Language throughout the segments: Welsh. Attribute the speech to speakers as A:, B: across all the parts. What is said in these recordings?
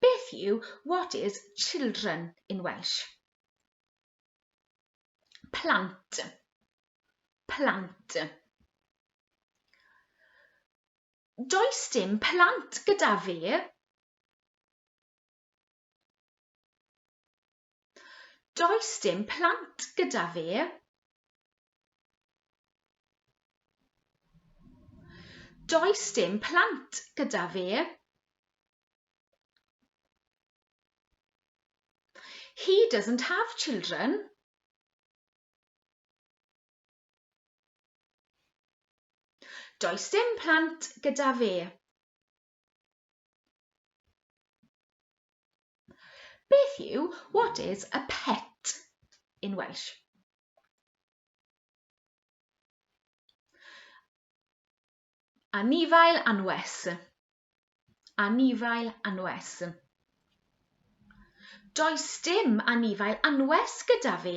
A: Beth yw what is children in Welsh? Plant. Plant. Does dim plant gyda fi. Does dim plant gyda fi. Does dim plant gyda fi. He doesn't have children. Does dim plant gyda fi. Beth yw what is a pet in Welsh? Anifail anwes. Anifail anwes. Does dim anifail anwes gyda fi.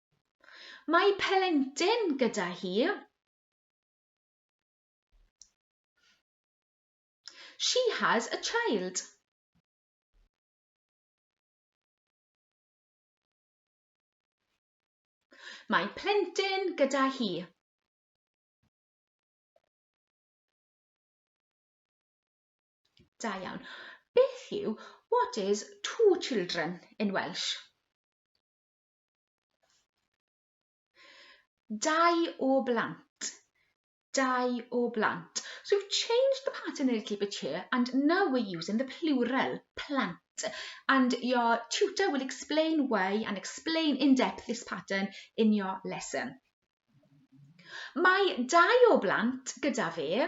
A: Mae pelentyn gyda hi. She has a child. Mae plentyn gyda hi. Da iawn. Beth yw what is two children in Welsh? Dau o blant. Dau o blant. So you've changed the pattern a little bit here and now we're using the plural, plant. And your tutor will explain why and explain in depth this pattern in your lesson. Mae dau o blant gyda fi.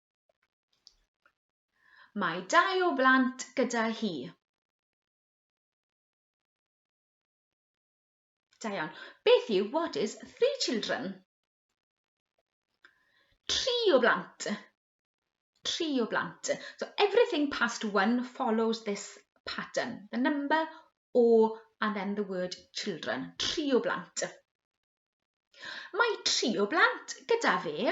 A: Mae dau o blant gyda hi. Da iawn. Beth yw what is three children? Tri o blant. Tri o blant. So everything past one follows this pattern. The number o and then the word children. Tri o blant. Mae tri o blant gyda fe.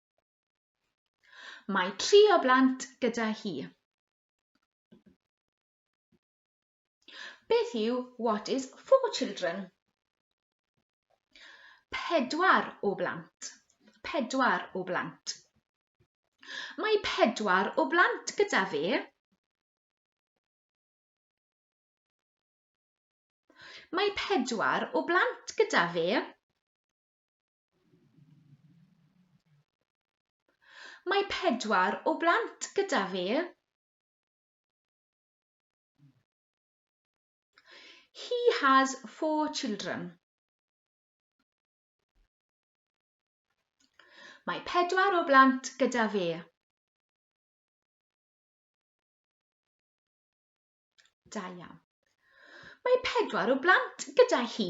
A: Mae tri o blant gyda hi. Beth yw what is four children? Pedwar o blant. Pedwar o blant. Mae pedwar o blant gyda fe. Mae pedwar o blant gyda fe. Mae pedwar o blant gyda fi. He has four children. Mae pedwar o blant gyda fi. Da iawn. Mae pedwar o blant gyda hi.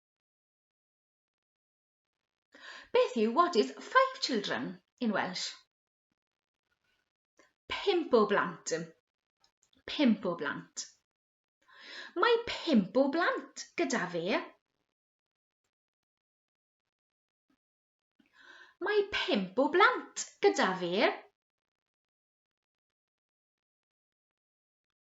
A: Beth yw what is five children in Welsh? Pimp o blant. Pimp o blant. Mae pimp o blant gyda fe. Mae pimp o blant gyda fe.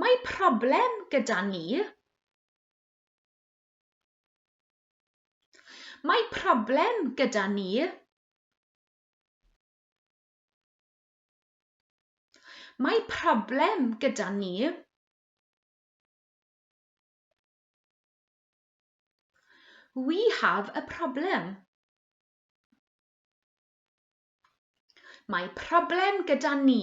A: Mae problem gyda ni. Mae problem gyda ni. Mae problem gyda ni. We have a problem. Mae problem gyda ni.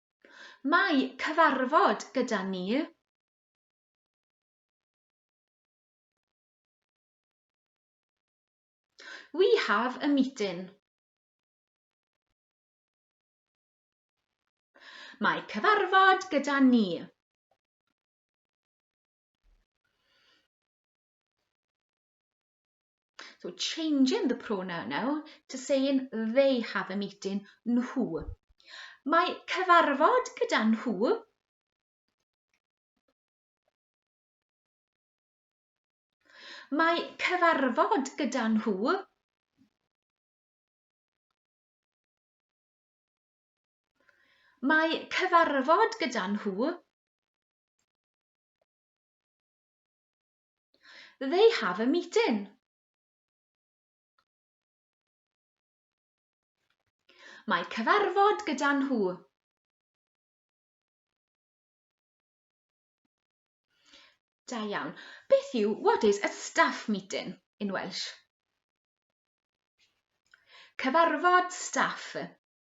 A: Mae cyfarfod gyda ni. We have a meeting. Mae cyfarfod gyda ni. So changing the pronoun now to saying they have a meeting, nhw. Mae cyfarfod gyda nhw Mae cyfarfod gyda nhw Mae cyfarfod gyda nhw They have a meeting. Mae cyfarfod gyda nhw. Da iawn. Beth yw, what is a staff meeting in Welsh? Cyfarfod staff.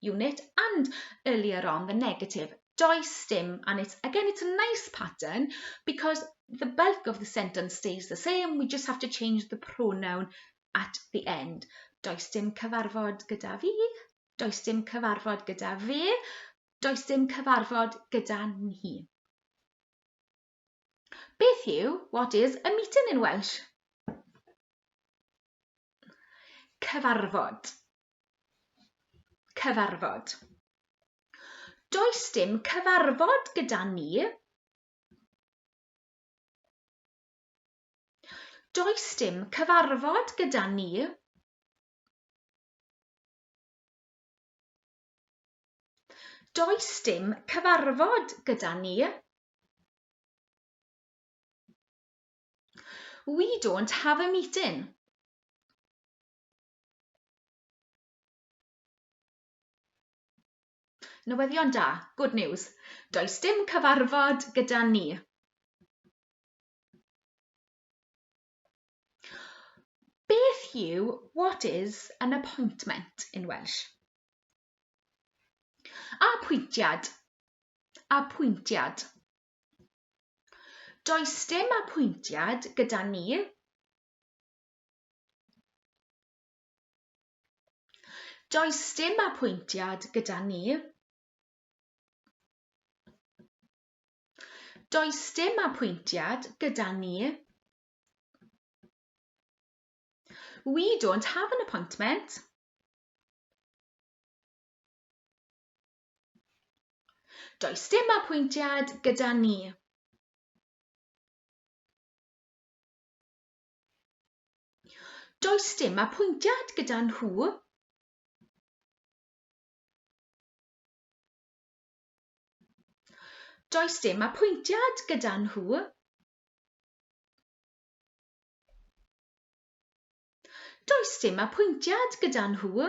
A: unit and earlier on the negative does stim and it's again it's a nice pattern because the bulk of the sentence stays the same we just have to change the pronoun at the end does dim cyfarfod gyda fi does dim cyfarfod gyda fi does dim cyfarfod gyda ni Beth yw what is a meeting in Welsh? Cyfarfod. Cyfarfod. Does dim cyfarfod gyda ni. Does dim cyfarfod gyda ni. Does dim cyfarfod gyda ni. We don't have a meeting. Newyddion da, good news. Does dim cyfarfod gyda ni. Beth yw what is an appointment in Welsh? Apwyntiad. Apwyntiad. Does dim apwyntiad gyda ni. Does dim apwyntiad gyda ni. Does dim apwyntiad gyda ni. We don't have an appointment. Does dim apwyntiad gyda ni. Does dim apwyntiad gyda nhw. Does dim apwyntiad gyda nhw. Does dim apwyntiad gyda nhw.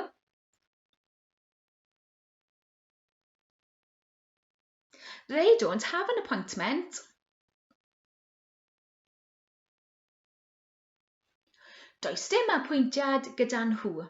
A: They don't have an appointment. Does dim apwyntiad gyda nhw.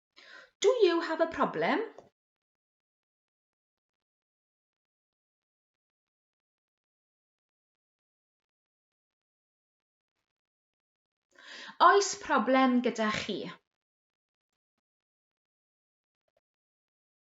A: Do you have a problem? Oes problem gyda chi?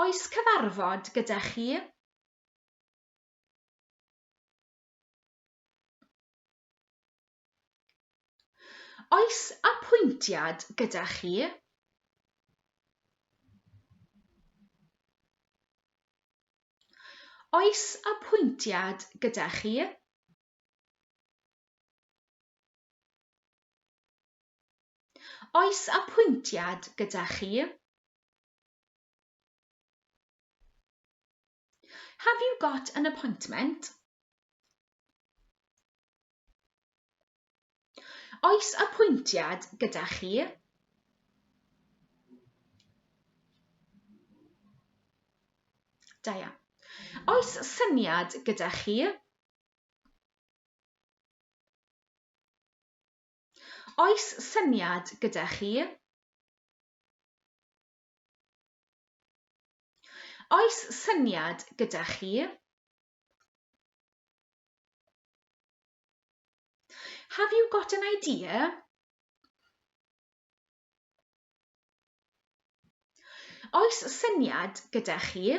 A: Oes cyfarfod gyda chi? Oes apwyntiad gyda chi? Oes apwyntiad gyda chi? Oes apwyntiad gyda chi? Have you got an appointment? Oes apwyntiad gyda chi? Da iawn. Oes syniad gyda chi? Oes syniad gyda chi? Oes syniad gyda chi? Have you got an idea? Oes syniad gyda chi?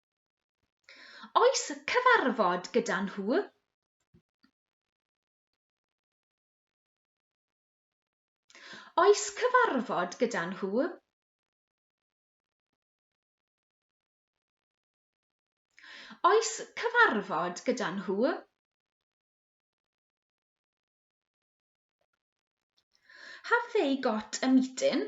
A: Oes cyfarfod gyda nhw? Oes cyfarfod gyda nhw? Oes cyfarfod gyda nhw? Have they got a meeting?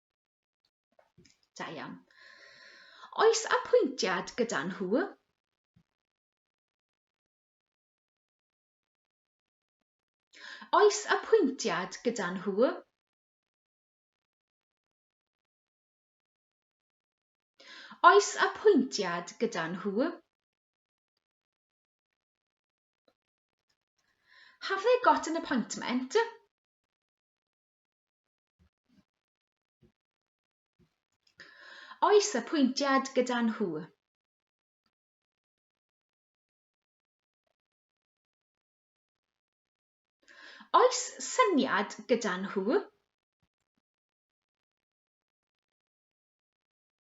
A: Da iawn. Oes apwyntiad gyda nhw? Oes apwyntiad gyda nhw? Oes apwyntiad gyda nhw? Have they got an appointment? Oes apwyntiad gyda nhw? Oes syniad gyda nhw?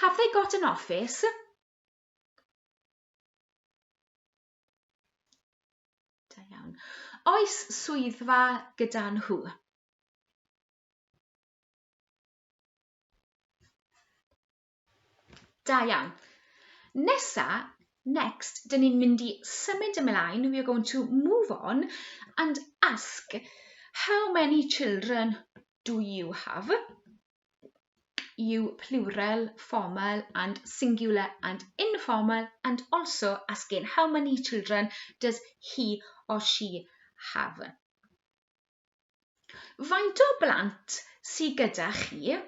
A: Have they got an office? Da iawn. Oes swyddfa gyda nhw? Da iawn. Nesa, next, dyn ni'n mynd i symud ymlaen. We are going to move on and ask how many children do you have yw plural, formal and singular and informal and also asking how many children does he or she have. Faint o blant sydd gyda chi?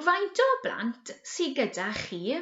A: Faint o blant sydd gyda chi?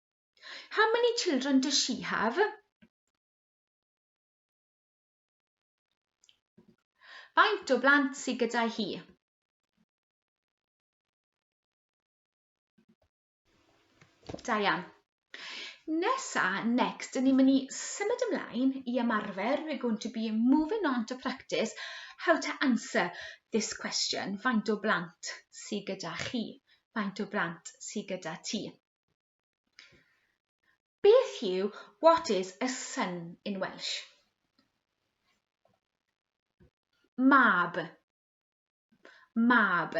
A: How many children does she have? Faint o blant sydd gyda hi? Da iawn. Nesa, next, dyn ni'n mynd i symud ymlaen i ymarfer. We're going to be moving on to practice how to answer this question. Faint o blant sydd gyda chi? Faint o blant sydd gyda ti? Beth yw what is a son in Welsh? Mab. Mab.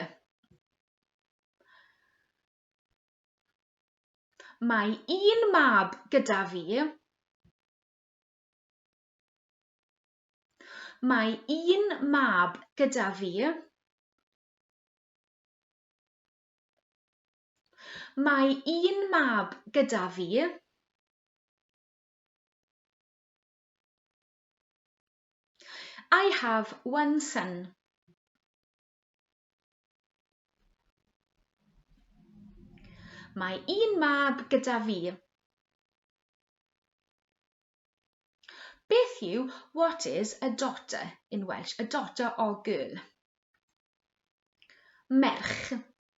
A: Mae un mab gyda fi. Mae un mab gyda fi. Mae un mab gyda fi. I have one son. Mae un mab gyda fi. Beth yw what is a daughter in Welsh? A daughter or girl. Merch.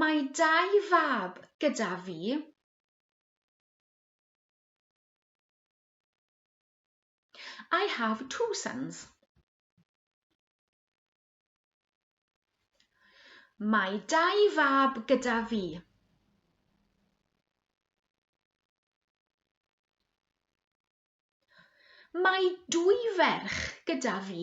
A: Mae dau fab gyda fi. I have two sons. Mae dau fab gyda fi. Mae dwy ferch gyda fi.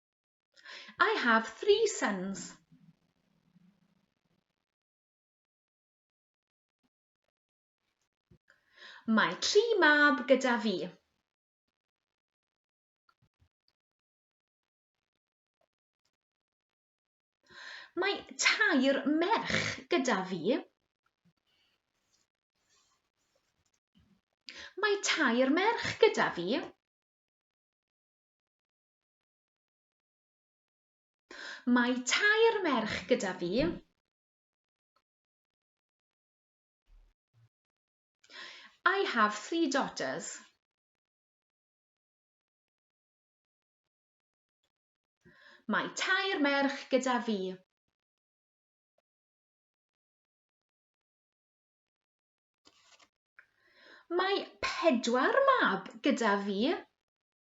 A: I have three sons. Mae tri mab gyda fi. Mae tair merch gyda fi. Mae tair merch gyda fi. Mae tair merch gyda fi. I have three daughters. Mae tair merch gyda fi. Mae pedwar mab gyda fi.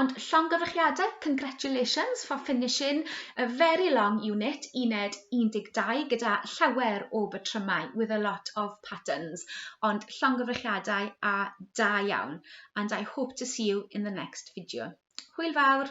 A: Ond llongyfarchiadau, congratulations for finishing a very long unit, uned 12, gyda llawer o batrymau, with a lot of patterns. Ond llongyfarchiadau a da iawn, and I hope to see you in the next video. Hwyl fawr!